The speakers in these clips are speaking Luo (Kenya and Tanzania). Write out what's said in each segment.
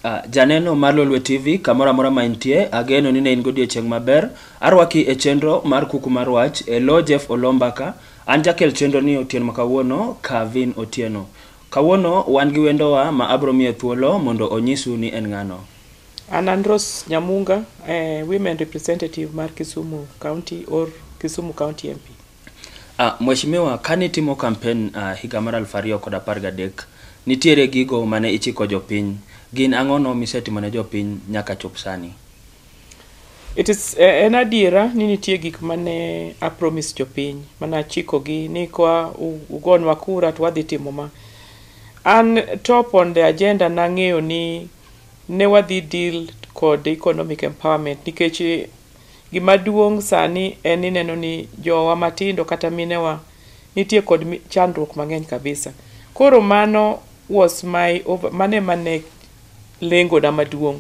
Uh, janeno mar Lolwe TV kamoro amora ma intie, ageno ni ne in godiechieng' maber. Arwaki e chenro mar kuku mar wach e lo Jeff Olombaka. An jakel chenro ni otieno ma kawuono Kavin Otieno. Kawuono wan gi wendowa ma abro miye thuolo mondo onyisu ni en ng'ano. An an Rose Nyamunga, eh, women representative mar Kisumu County or Kisumu County MP. Ah, Mheshimiwa, kane itimo kampen ah, higa mar aluf ariyo kod apar gadek, nitiere gigo mane ichiko jopiny. Gin ang'ono misetimo ne jopiny nyaka chop sani? It is eh, en adiera ni nitie gik mane a promise jopiny mane achikogi ni kwa u- ugonwa kura to wadhi timo ma. An top on the agenda nang'eyo ni ne wadhi deal kod economic empowerment nikech gima duong' sani en ni neno ni jowa matindo kata minewa nitie kod mi- chandruok mang'eny kabisa. Koro mano was my over, mano ema ne lengona maduong'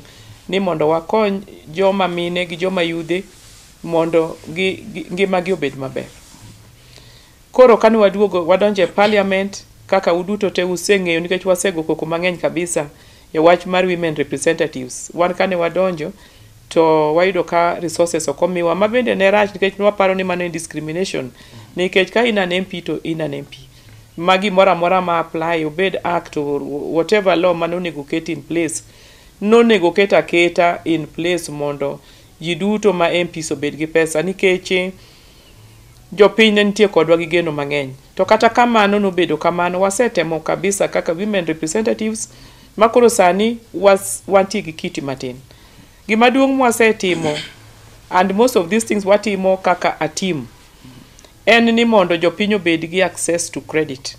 ni mondo wakony joma mine gi joma yudhe mondo gi, gi, ngimagi obed maber. Koro kane waduogo wadonjo e Parliament, kaka uduto te useng'eyo nikech wasego koko mang'eny kabisa e wach mar women representatives, wan kane wadonjo to wayudo ka resources ok omiwa, ma bende ne rach nikech ne waparo ni mano en discrimination nikech ka in an MP to in an MP. Ma gimoro amora ma apply obed act or whatever law mane onego oket in place, nonego oket aketa in place mondo ji duto ma MPs obed gi pesa nikech, Jopiny ne nitie kodwa gi geno mang'eny. To kata kamano nobedo kamano, wasetemo kabisa kaka women representatives ma koro sani was, wantie gi kiti matin. Gima duong' mwasetimo and most of these things watimo kaka a team en ni mondo jopiny obed gi access to credit.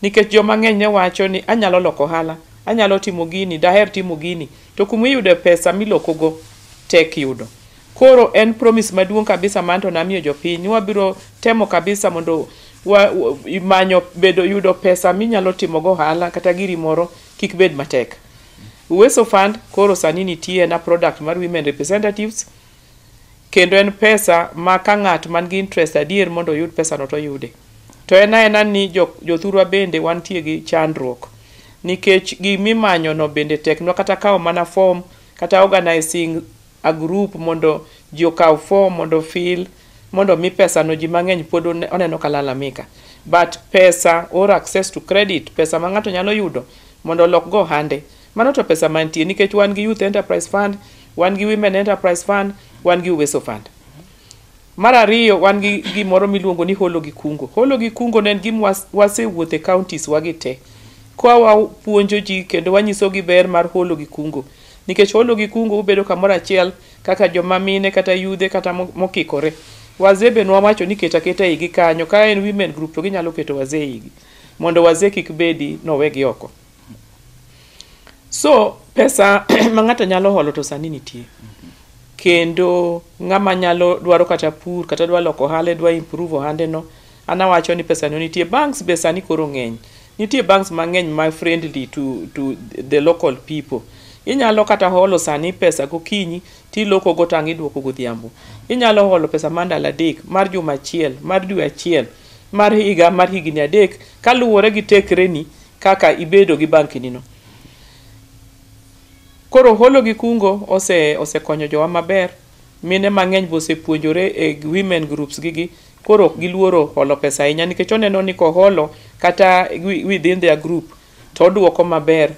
Nikech joma ng'eny ne wacho ni anyalo loko ohala, anyalo timo gini, daher timo gini, to kuma iyudo pesa milokogo tek yudo. Koro en promise maduong kabisa ma anto namiyo jopiny ni wabiro temo kabisa mondo wa, wa, manyo bedo yudo pesa minyalo timo go ohala kata giri moro kik bed matek. Uweso Fund koro sani nitie na product mar women representatives kendo en pesa ma ka ng'at man gi interest adier mondo oyud pesa no to yude. To en aena ni jo, jothurwa bende wantie gi chandruok nikech gimimanyo no bende teknwa kata kawo mana form kata organizing a group mondo ji okaw form mondo o fill mondo omi pesa no ji mang'eny pod oneno ka lalamika but pesa or access to credit pesa ma ng'ato nyalo yudo mondo olok go ohande mano to pesa mantie nikech wan gi youth enterprise fund wan gi women enterprise fund wan gi uweso fund mar ariyo wan gi gimoro miluongo ni holo gi kungo holo gi kungo ne en gima wasewuothe counties wagi te kwa wapuonjo ji kendo wanyisogi ber mar holo gi kungo Nikech holo gi kungo ubedo kamoro achiel kaka joma mine kata yudhe kata mokikore. Wazee be nwawacho ni ket aketa igi kanyo ka en women group to ginyalo keto wazee igi mondo wazee kik bedi nowegi oko. So pesa ma ng'ato nyalo holo to sani nitie. Kendo ng'ama nyalo dwaro kata pur kata dwa loko ohande dwa improve ohande no An awacho ni pesa no nitie. Banks be sani koro ng'eny. Nitie banks mang'eny ma friendly to, to the local people. Inyalo kata holo sani pesa gokinyi tiloko go tang' iduoko godhiambo. Inyalo holo pesa mar ndalo adek, mar juma achiel, mar dwe achiel, mar higa, mar higni adek kaluwore gi tekreni kaka ibedo gi banki nino. Koro holo gi kungo ose osekonyo jowa maber. Mine mang'eny be osepuonjore e women groups gi gi koro ok giluoro holo pesa ahinya nikech oneno ni koholo kata within their group to oduoko maber,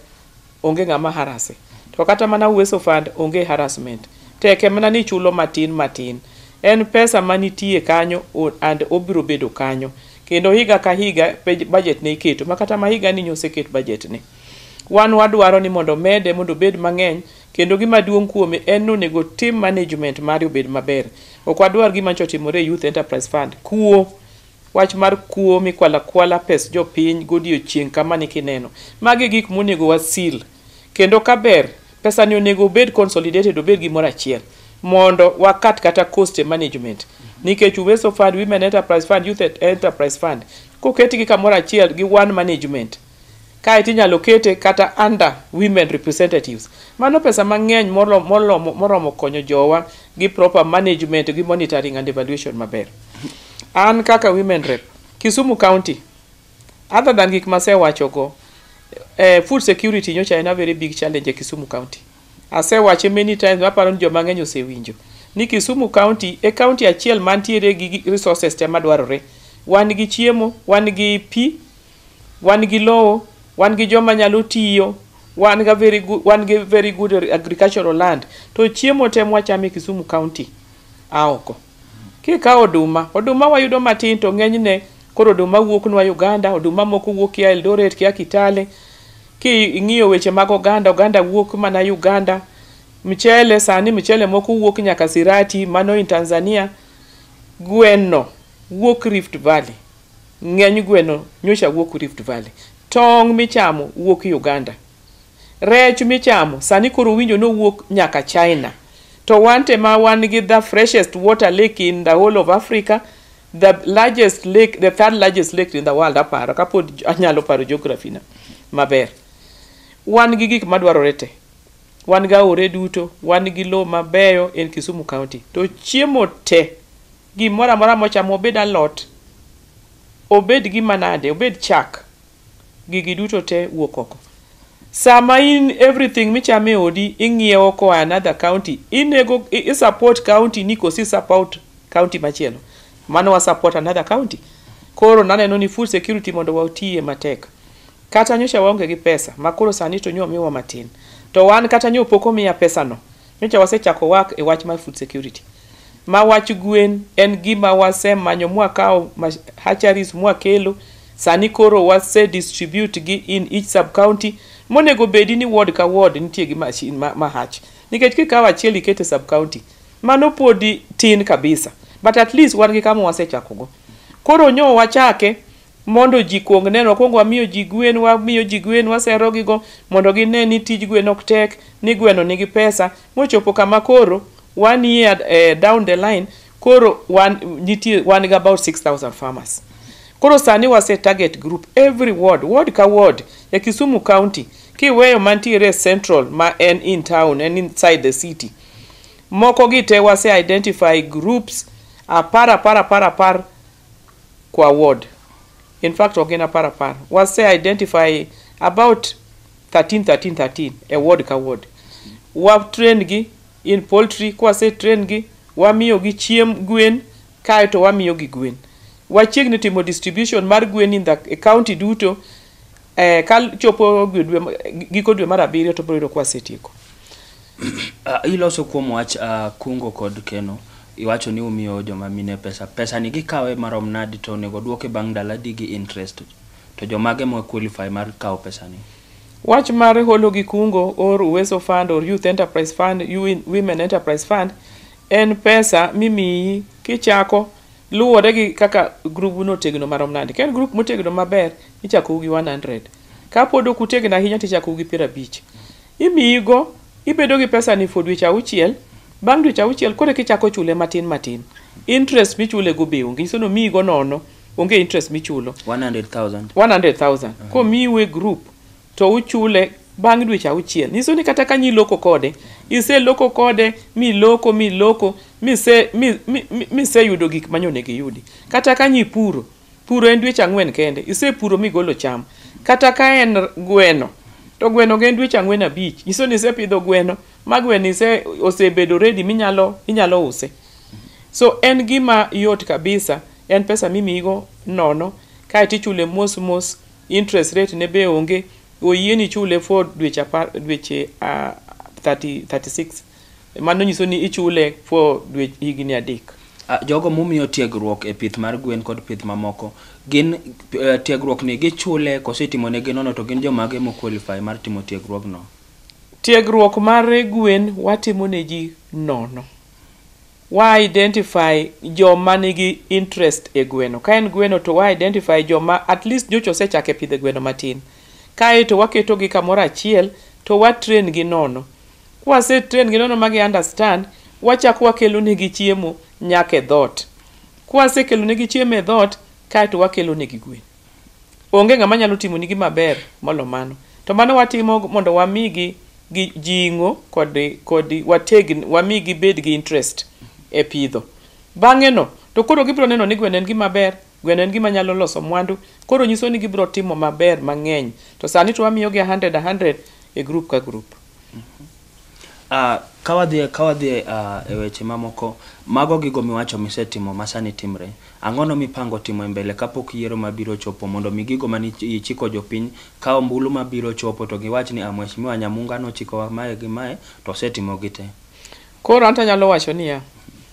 onge ng'ama harase. To kata mana Uweso Fund onge harassment. Tek e mana ni ichulo matin matin. En pesa manitie kanyo and obiro bedo kanyo. Kendo higa ka higa budget ne iketo. Ma kata ma higani nyo oseket budget ne. Wan wadwaro ni mondo omede mondo obed mang'eny. Kendo gima duong' kuome en ni onego otim management mare obed maber. Ok wadwar gima nyocha otimore e Youth Enterprise Fund, kuo. Wach mar kuo mikwalo akwala pes jopiny godiechieng' kama ni kineno. Magi e gik monego wa seal. Kendo ka ber, pesa ni onego obed consolidated obed gimoro achiel. Mondo wa cut kata cost e management. Nikech Uwezo Fund, Women Enterprise Fund, Youth Enterprise Fund, koketgi kamoro achiel gi one management, Kae to inyalo kete kata under women representatives. Mano pesa mang'eny moromo konyo jowa gi proper management gi monitoring and evaluation maber. An kaka women rep, Kisumu county, other than gik masewachogo, eh, food security nyocha en a very big challenge e Kisumu county. Asewache many times, aparo ni joma ng'eny osewinjo ni Kisumu county e county achiel mantiere gi resources te madwarore. Wan gi chiemo, wan gi pi, Wan gi lowo, wan gi joma nyalo tiyo, wan ga very good, wan gi very good agricultural land. To chiemo te mwachamo e Kisumu County a oko. Kikawo oduma, oduma wayudo matin to ng'enyne koro oduma wuoknwa Uganda, oduma moko wuok kia Eldoret, kia Kitale. Ki ing'iyo weche mag oganda, oganda wuok mana Uganda. Mchele sani, mchele moko wuok nyaka Sirati, mano in Tanzania. Gwenno wuok Rift Valley. Ng'eny gweno nyocha wuok Rift Valley. Tong' michamo wuok Uganda. Rech michamo sani koro winjo ni owuok nyaka China. To wante ma wan gi the freshest water lake in the whole of Africa, the largest lake, the third largest lake in the world aparo kapod anyalo paro geography na maber. Wan gi gik madwarore te. Wan gi aore duto, wan gi lowo mabeyo in Kisumu County. To chiemo te. Gimoro amora mochamo obed alot, obed gima nade, obed chak, gigi duto te wuok oko. Sama in everything michamo e odi ing'iewo koa another county, inego i i support county ni koso i support county machielo. Mano wa support another county. Koro naneno ni food security mondo watiye matek. Kata nyocha waonge gi pesa ma koro sani to nyo omiwa matin. To wan kata nyo pok omiya pesano. Nyocha wasechako work e wach mar food security. ma wach gwen en gima wasemanyo mwakawo hatcheries mwakelo sani koro wase distribute gi in each sub county monego bedi ni ward ka ward nitie gi machine ma, ma hatch nikech kikawo achiel ikete sub county mano podi tin kabisa but at least wan gi kama wasechakogo koro nyo wachake Mondo ji kuong neno, wakuongo wamiyo ji gwen, wamiyo ji gwen, waserogigo mondo gine ni tij gwen ok tek, ni gweno nigi pesa. Mochopo kama koro one year eh, down the line, koro wan, nitie, wan gi about 6,000 farmers. Koro sani wase target group every ward, ward ka ward e Kisumu County, kiweyo mantiere e central ma en in town, en inside the city. Moko gi te wase identify groups apar apar apar apar kwa ward. In fact, ok gin apar apar. Wase identify about 13, 13, 13 e ward ka ward. Wa train gi in poultry, kwa se train gi, wamiyo gi chiem gwen, kae to wamiyo gi gwen. Wachiegni timo distribution mar gwen in the county duto, eh, ka chopo gi dwe ma- giko dwe mar abiriyo to biro yudo kwa setieko Ah, iloso kuom wach ah, kungo kod keno iwacho ni umiyo joma mine pesa pesa ni gikawe marom nadi to onego duoke bang' ndala di gi interest to jomage ma qualify mar kawo pesa ni wach mar holo gi kungo or uweso fund or youth enterprise fund you women enterprise fund en pesa mimiyi kichako Luwore gi kaka grubu no tegno marom nade. Ka en grup motegno maber, ichakou gi 100. Ka pod ok utegno ahinya to ichakou gi piero abich. Imiyi go, ibedo gi pesa ni for dweche auchiel, bang' dweche auchiel koro eka ichako chule matin matin. Interest michule go be onge, nyiso ni omiyi go nono, onge interest michulo. 100,000. 100,000. Komiu e grup, to uchule bang' dweche auchiel. Nyiso ni kata ka niloko kode, iseloko kode, miloko, miloko, mise, mi, mi, mi- miseyudo gik ma nyonego iyudi. Kata ka nyipuro, puro en dweche ang'wen kende, isepuro migolo cham. Kata ka en gweno, to gweno en dweche ang'wen abich. Nyiso ni isepidho gweno, ma gweno ise, osebedo ready minyalo, inyalo use. So en gima yot kabisa, en pesa mimiyigo nono, kaeto ichule mos mos interest rate ne be onge oyieni ichule for dweche apar dweche ah, 30 36 mano nyiso ni ichule for dwe higni adek Ah, jogo mumiyo tiegruok e pith mar gwen kod pith mamoko gin eh, tiegruok ni gichule kose itimo negi nono to gin jomage mo qualify mar timo tiegruogno tiegruok mar gwen watimo ne ji nono Wa identify joma nigi interest e gweno. Ka en gweno to wa identify joma at least nyocha osechako e pidho gweno matin. Kae to waketogi kamoro achiel to wa train gi nono. Kwase train gi nono ma gi understand, wachako wakelonegi chiemo nyaka e dhoot. Kwasekelonegi chiemo e dhoot, kae to wakelonegi gwen. Onge ng'ama nyalo timoni gi maber molo mano. To mano watimo mondo wamigi gi jing'o kod kod wategn wami gibed gi interest e pidho. Bang'e no to koro gibiro neno ni gweno en gima ber, gweno en gima nyalo loso mwandu. Koro nyiso ni gibiro timo maber mang'eny. To sani to wamiyogi a hundred a hundred e group ka group. Ah, ka wadhie ka wadhie ah, e weche mamoko mago gigo miwacho misetimo masani timre ang'ono mipango timo e mbele kapok yiero mabiro chopo mondo mi gigo mane ich- ichiko jopiny ka ombulu mabiro chopo to giwach ni ah mheshimiwa nyamunga nochikowa mae gi mae to osetimo gi te Koro anto anyalo wacho niya,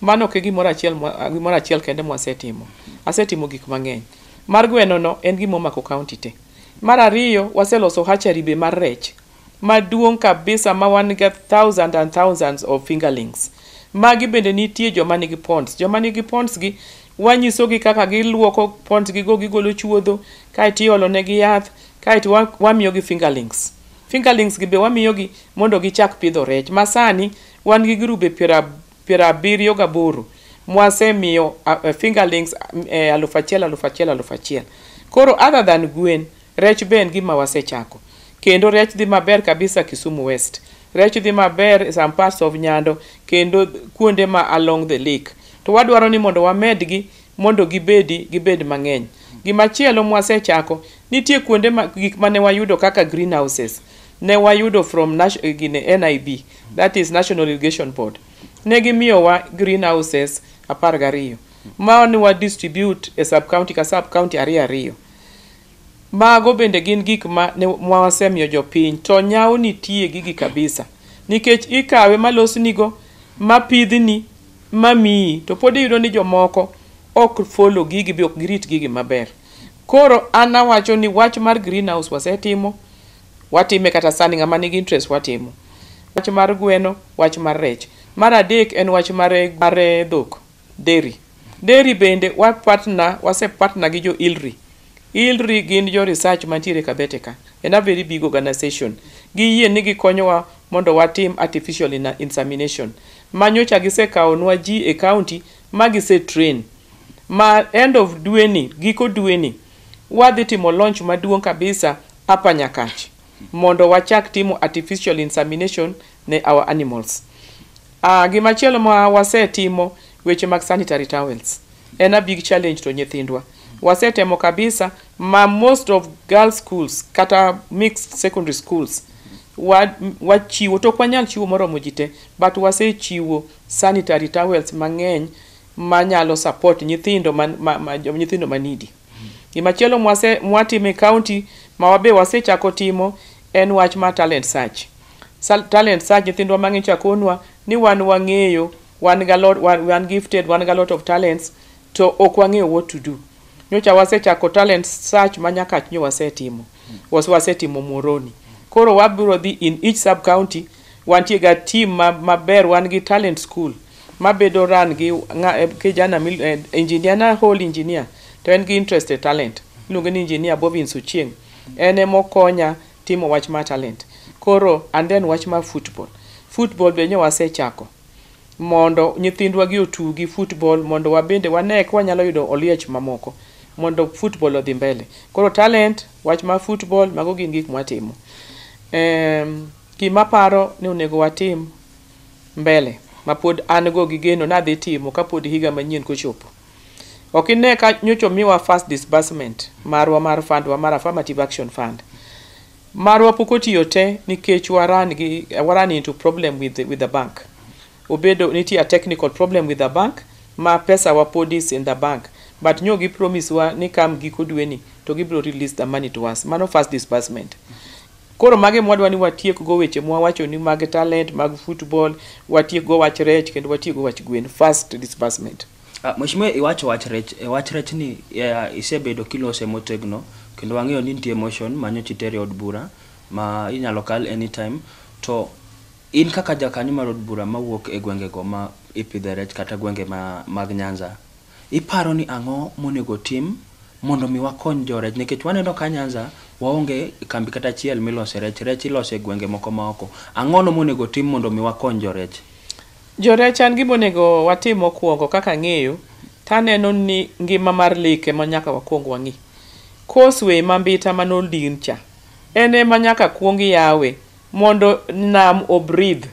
mano ok e gimoro achiel mwa- gimoro achiel kende mwasetimo. Asetimo gik mang'eny. Mar gwenono en gima omako kaunti te. Mar ariyo, waseloso hatchery be mar rech. maduong kabisa ma wan ga thousand and thousands of fingerlings magi bende nitie joma nigi ponds joma nigi ponds gi wanyisogi kaka giluoko ponds gi go gigolo chuodho kaeto iolo negi yath kaeto wa- wamiyogi fingerlings fingerlings gi be wamiyogi mondo gichak pidho rech ma sani wan gi grube piero ab- piero abiriyo gaboro mwasemiyo a- a- fingerlings eh, alufu achiel alufu achiel alufu achiel koro other than gwen Rech be en gima wasechako. Kendo rech dhi maber kabisa Kisumu West. Rech dhi maber some parts of Nyando kendo kuonde ma along the lake. To wadwaro ni mondo wamedgi mondo gibedi gibed mang'eny. Gima chielo mwasechako, nitie kuonde ma gik mane wayudo kaka greenhouses. Ne wayudo from Nash- eh, gine, NIB, that is National Irrigation Board. Ne gimiyowa greenhouses apar gariyo. Ma ne wa distribute e sub-county ka sub-county ariyo ariyo. Mago bende gin gik ma ne wasemiyo jopiny, to nyawo nitie gigi kabisa. Nikech ikawe ma losnigo, ma pidhni, ma miyi, to pod iyudo ni jomoko ok follow gigi be ok girit gigi maber. Koro an awacho ni wach mar green house wasetimo, watime kata sani ng'ama nigi interest watimo. Wach mar gweno, wach mar rech. Mar adek en wach mar dhok. Deri. Deri bende wa partner, wase partner gi jo ILRI. ILRI gin jo research mantiere Kabete ka. En a very big organization. Giyie ni gikonyowa mondo watim artificial ina- insemination. Ma nyocha gisekaonwa ji e county ma gise train. Ma end of dwe ni, giko dwe ni, wadhi timo launch maduong' kabisa hapa Nyakach mondo wachak timo artificial insemination ne our animals. Ah, gima chielo ma wasetimo weche mag sanitary towels en a big challenge to nyithindwa. Wasetemo kabisa ma most of girls schools kata mixed secondary schools wa- m- wachiwo to ok wanyal chiwo moromo ji te but wasechiwo sanitary towels mang'eny manyalo support nyithindo man, ma, ma, jo- nyithindo manidi. Gimachielo mwase mwatimo e county ma wabe wasechako timo en wach mar talent search. Sal- Talent search nyithindwa mang'eny chakonwa ni wan wang'eyo wan ga lot wan, wan gifted wan ga lot of talents to ok wang'eyo what to do. Nyocha wasechako talent search ma nyakach nyo wasetimo. Wase wasetimo Muoroni. Koro wabiro dhi in each sub county Wantie ga team ma maber wan gi talent school mabedo run gi nga, eh, kijana mil- eh, engineer na whole engineer to en gi interest e talent iluonge ni engineer Bobin Suchieng en ema okonya timo wach ma talent koro and then wach ma football football be nyo wasechako mondo nyithindwa gi otugi football mondo wabende wane ka wanyalo yudo oliech mamoko mondo football odhi mbele koro talent wach ma football mago gin gik mwatimo um, Gima aparo ni onego watim mbele mapod an go gi geno ni adhi timo kapod higa manyien kochopo. Ok ine ka nyocha omiwa first disbursement marwa mar fund wa mar affirmative action fund. Marwa pok otiyo te nikech wa run gi wa run into problem with the, with the bank. Obedo nitie a technical problem with the bank ma pesa wa pod is in the bank but nyo gi promise wa ni kam giko dweni to gibiro release the money to us. Mano first disbursement. Koro mage ema wadwa ni watiek go weche mwawacho ni mag talent, mag football, watiek go wach rech kendo watiek go wach gwen. First disbursement. Ah, Mheshimiwa iwacho wach rech, e wach rech ni eh, isebedo kilose motegno kendo wang'eyo ni nitie motion manyo chitere od bura ma inyalo kal anytime to in kaka jakanyo mar od bura mawuok e gwengego ma ipidhe rech kata gwenge ma, mag Nyanza Iparo ni ang'o monego otim mondo mi wakony jo rech nikech waneno ka Nyanza waonge kambi kata achiel milose rech, rech ilose e gwenge moko ma oko. Ang'ono monego otim mondo mi wakony jo rech? Jo rech an gima onego watim mokuongo kaka ang'eyo to aneno ni ngima mar lake ema nyaka wakuong wang'i. Course way ma Mbita man Oldin cha en ema nyaka kuong yawe mondo nam o breathe.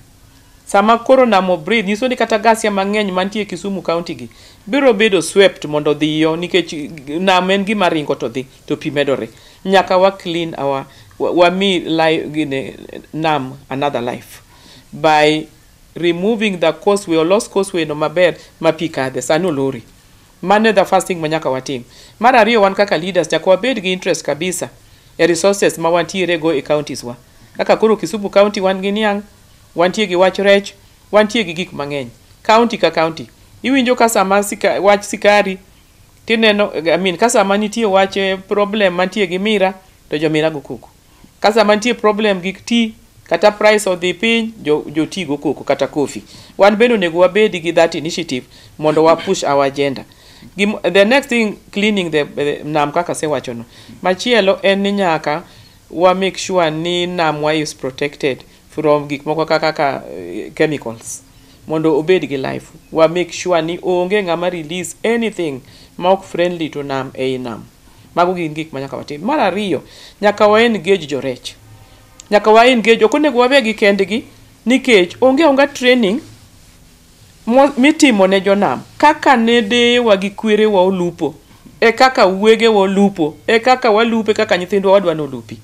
Sama koro nam o breathe nyiso ni kata gasia mang'eny mantie Kisumu county gi biro bedo swept mondo odhi yo nikech nam en gima ringo to dhi to pi medore. Nyaka wa clean our wami life gine nam another life by removing the causeway olos causeway no maber ma pi kadhe. Sani olore. Mano e the first thing ma nyaka watim. Mar ariyo wan kaka leaders nyaka wabed gi interest kabisa e resources ma wantiere go e counties wa. Kaka koro Kisumu County wan gi niang', wantie gi wach rech, wantie gi gik mang'eny. County ka county. Iwinjo ka sama sika, wach sikari tineno I mean ka sama nitie wach eh, problem mantie gi mira to jomira go koko. Ka sama nitie problem gik ti kata price odhi piny jo, jo ti go koko kata coffee. Wan bende onego wabedi gi that initiative mondo wa push our agenda. Gim, the next thing cleaning the, the nam kaka sewacho no. Machielo en ni nyaka wa make sure ni namwa is protected from gik moko kaka kaka eh, chemicals mondo obed gi life wa make sure ni onge ng'ama release anything ma ok friendly to nam ei nam Mago gin gik ma nyaka watim. Mar ariyo, nyaka wa engage jorech. Nyaka wa engage, ok onego wawe gi kendgi nikech onge onga training mo- mitimo ne jonam kaka ne deyewa gi kwerewa olupo e kaka wuogewa olupo e kaka walupe kaka nyithindwa wadwa ni olupi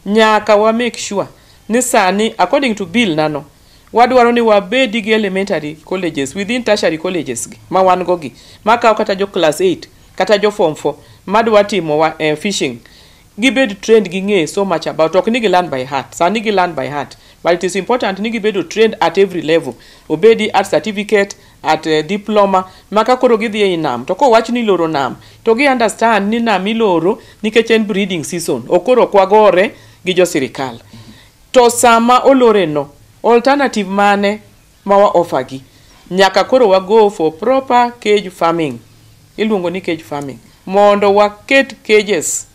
nyaka wa make sure ni sani according to bill nano wadwaro ni wabedi gi elementary colleges within tertiary colleges gi ma wan go gi makawo kata jo class 8 kata jo form 4 madwa timo wa, eh, fishing gibed trained ging'e so much about ok ni gi learn by heart sani gi learn by heart but it is important ni gibedo trained at every level obedi at certificate at uh, diploma maka koro gidhi ei nam to kowach ni loro nam to gi understand ni nam iloro nikech en breeding season okoro kwagore gi jo sirikal to sama oloreno alternative mane ma wa offer gi nyaka koro wa go for proper cage farming iluongo ni cage farming mondo waket cages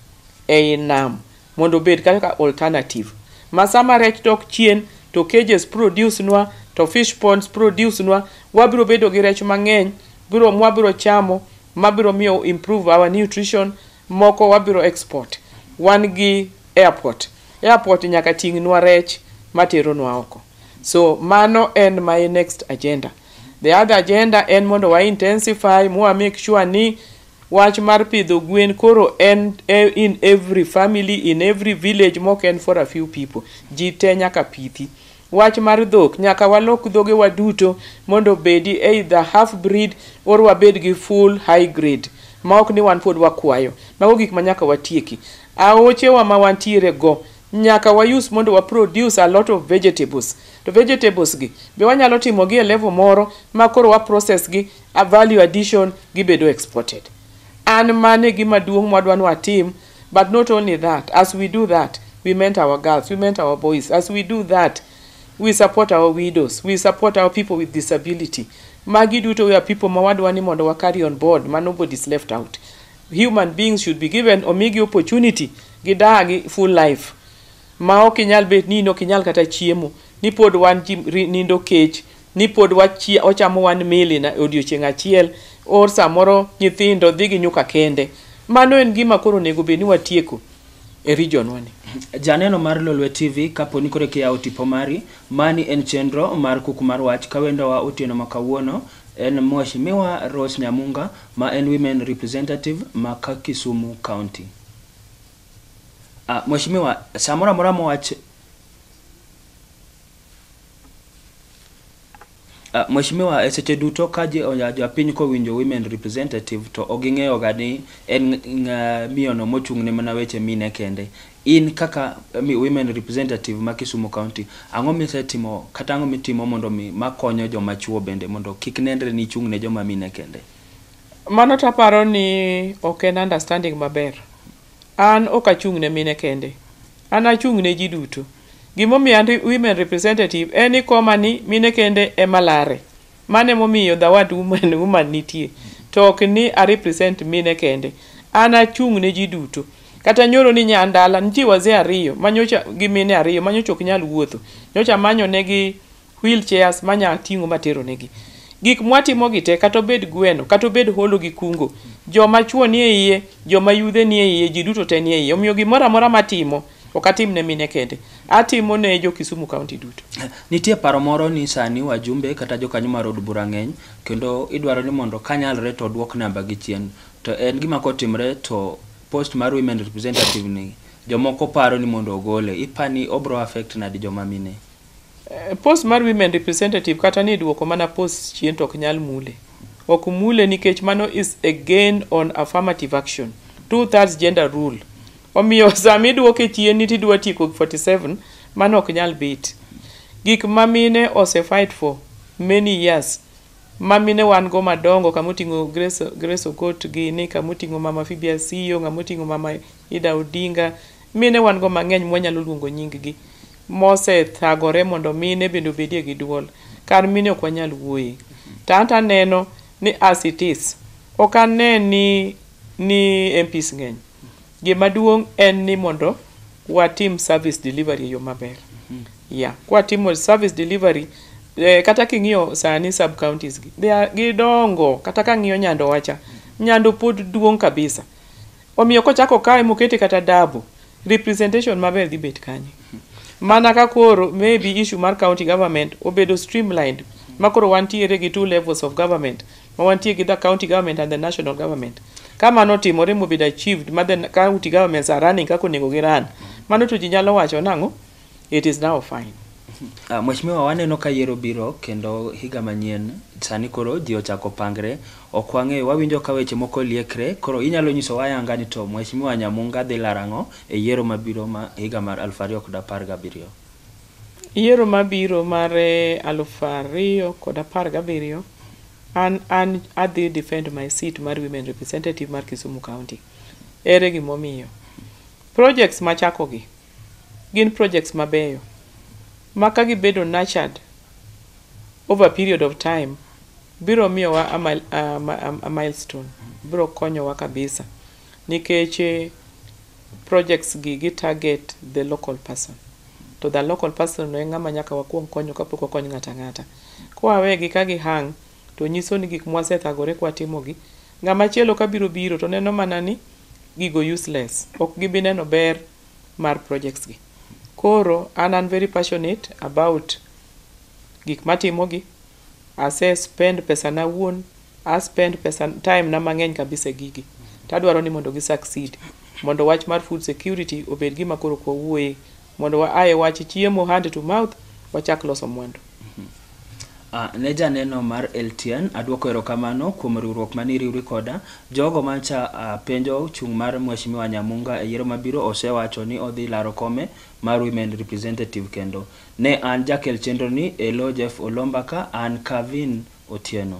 ei nam mondo obed kaka alternative ma sama rech dok chien to cages produce nwa to fish ponds produce nwa wabiro bedo gi rech mang'eny biro mwabiro chamo mabiro miyo improve our nutrition Moko wabiro export. Wan gi airport. Airport nyaka ting'nwa rech materonwa oko. So mano en my next agenda. The other agenda en mondo wa intensify mwa make sure ni wach mar pidho gwen koro en in every family, in every village mok en for a few people. Ji te nyaka pithi. Wach mar dhok, nyaka walok dhoge wa duto mondo obedi either half breed or wabed gi full high grade maok ni wan pod wakwayo. Mago gik manyaka watieki. Aoche wa ma wantiere go, nyaka wa use mondo wa produce a lot of vegetables. To vegetables gi be wanyalo timo gi e level moro ma koro wa process gi a value addition gibedo exported. An mano e gima duong' mwadwa nwatim But not only that, as we do that, we meant our girls, we meant our boys. As we do that, we support our widows, we support our people with disability. Magi duto we are people ma wadwa ni mondo wa carry on board, ma nobody is left out. Human beings should be given omigi opportunity gidagi full life. Ma ok inyal bet ni in ok inyal kata chiemo, ni pod wan ji ri- nindo kech, ni pod wachie- wachamo one meal in a- odiochieng' achiel, or samoro nyithindo dhi gi nyuka kende. Mano en gima koro onego bed ni watieko e region wa ni. Janeno mar Lolwe TV, kaponi koro kiyawo tipo mari, mani en chenro mar kuku mar wach kawendowa otieno ma kawuono en Mheshimiwa Rose Nyamunga ma en Women Representative ma ka Kisumu County. Ah, mheshimiwa, samora mora mwach Ah, Mheshimiwa, e seche duto ka je- oya- japiny kowinjo women representative to ok ging'eyo ga ni en ng'a- miyono mochung' ne mana weche mine kende. In kaka eh, mi- women representative ma Kisumu County, ang'o misetimo kata ang'o mitimo mondo mi makonyo joma chuo bende mondo kik nenre ni ichung' ne joma mine kende? Mano to aparo ni ok en understanding maber. An ok achung' ne mine kende. An achung' ne ji duto. Gima omiyo an women representative en ni ikoma ni mine kende ema lare. Mano ema omiyo the word woman woman nitie. To ok ni a represent mine kende. An achung' ne ji duto. Kata nyoro ni nya an dala, nitie wazee ariyo manyocha gi mine ariyo manyocha ok nyal wuotho. Nyocha amanyo negi wheel chairs manya ting'o materonegi. Gik mwatimogi te kata obed gweno, kata obed holo gi kungo, joma chwo nie iye, joma yudhe nie iye, ji duto te nie iye. Omiyo gimoro amora matimo, ok atim ne mine kende. Atimo ne jo Kisumu County duto. Nitie paro moro ni sani wajumbe kata jokanyo mar od bura ng'eny kendo idwaro ni mondo kanyalre to odwok namba gi chien. To en gima kotimre to post mar women representative ni jomoko paro ni mondo ogole. Ipani obro affect nadi joma mine? Post mar women representative kata ni idwoko mana post chien to ok nyal mule. Ok mule nikech mano is a gain on affirmative action. Two thirds gender rule. Omiyo sama idwoke chien ni tidwa tieko 47, mano ok nyal bit. Gik ma mine ose fight for many years ma mine wan go madongo kama oting'o Grace, Grace Okot gini, kama oting'o Mama Phoebe Asiyo, ng'ama oting'o Mama Ida Odinga, Mine wan-go mang'eny mwanyalo luongo nyinggi, mosethagore mondo mine bende obedie gi dwol. Kar mine ok wanyal wuoye. To anto aneno ni as it is, ok ane ni ni MPs ng'eny. Gima duong' en ni mondo watim service delivery e yo maber. Yeah. Kwatimo service delivery, eh, kata king'iyo sani sub counties gi, they are- gidongo. Kata kang'iyo Nyandowa cha, Nyando pod duong' kabisa. Omiyo kochako kawe mokete kata dabu, representation maber dhi bet kanye? Mana ka koro maybe issue mar county government obedo streamlined ma koro wantiere gi two levels of government ma wantie gi the county government and the national government. Ka mano otimore mobedo achieved ma the county governments are running kaka onego gi run, mano to ji nyalo wacho nang'o? It is now fine. Uh, Mheshimiwa, waneno ka yiero biro kendo higa manyien sani koro ji ochako pangre, ok wang'eyo, wawinjo ka weche moko liekre, koro inyalo nyiso wayanga ni to Mheshimiwa Nyamunga dhi laro ang'o e yiero mabiro ma higa mar aluf ariyo kod apar gabiriyo? Yiero mabiro mar eh, aluf ariyo kod apar gabiriyo an an adhi defend my seat mar women representative mar Kisumu County. Ere gimomiyo? Projects machakogi Gin projects mabeyo ma ka gibedo nurtured over a period of time biro miyowa a milestone, biro konyowa kabisa nikech projects gi gi target the local person to the local person no e ng'ama nyaka wakuong konyo kapok wakony ng'ato ang'ata. Kwa wegi ka gi hang' to nyiso ni gik mwasethagore kwatimogi, ng'ama chielo ka biro biro to neno mana ni gigo useless, ok gibi neno ber mar projects gi. Koro an an very passionate about gik matimogi, ase spend pesa na awuon, a spend pesa time na mang'eny kabisa e gigi. Tadwaro ni mondo gi succeed. Mondo wach mar food security obed gima koro ok wawuoye. Mondo wa ae wach chiemo hand to mouth, wachak loso mwandu. Ah, ne janeno mar LTN, adwoko erokamano kuom riwruok mane iriwri koda. Jogo mancha ah, penjo chung' mar Mheshimiwa Nyamunga e yiero mabiro osewacho ni odhi laro kome mar Women Representative kendo. Ne an jakel chenroni e lo Jeff Olomba ka an Cavin Otieno.